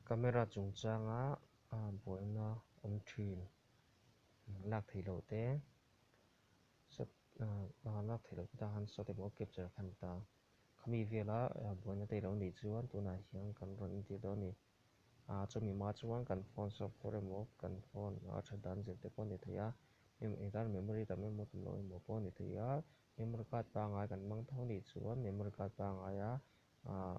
Camera chungchanga a han buaina awm thin lak thei lo te shot a lak thei lo te tahan shot emaw capture khan ta khami vela buaina tei lo nih chuan tunah hian kan rawn entir dawn a ni a chumi ma chuan kan phone shop fur emaw kan phone a tha dan zel te pawh a ni thei a engtar memory tam emaw tam lo emaw pawh a ni thei a memory card pangai kan hmang tho nih chuan memory card pangaia ahh.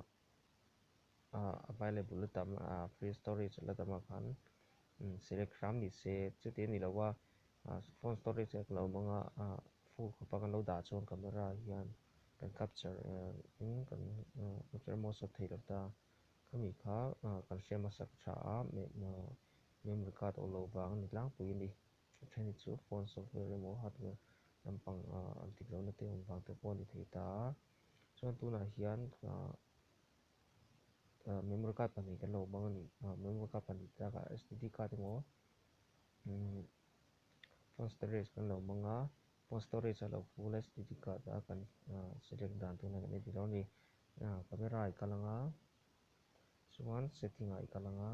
available la dam a free storage la dam a khan select hram ni se chutiang ni lo a phone storage ek lo awm a a phone khaw panga lo dah chuan camera hian kan capture in kan capture emaw shot thei lo ta khami kha kan hrem a sak tha a memory card aw lo vang ani tlangpui a ni a then hi chu phone software emaw hardware lampang an dik lohna te awm vang te pawh a ni thei ta a. Chuan tunah hian memory card pahnih kan lo hmang a ni. Memory card pahnih te lakah STD card emaw phone storage kan lo hmang a, phone storage a lo full a STD card a kan select dan tûn hian kan en ti lo a ni. Camera i kal ang a, chuan setting ah i kal ang a.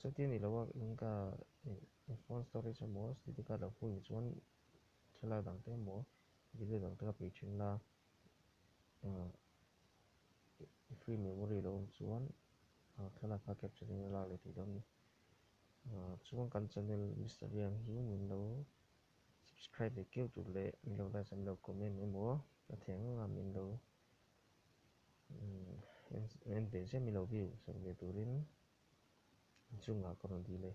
Chuti ni lo a, Inca in phone storage emaw SD card lo phun ni chuan thlalak dang te emaw video dang te ka pe thin la, i free memory lo awm chuan thlalak kha capture in a lak leh theih dawn ni. Chuan kan channel Mister Lian hi min lo subscribe ve keu tur leh min lo like a min lo comment emaw hrethiam anga min lo en pe zem ilo viu sak ve turin inchungah ka rawn dil e.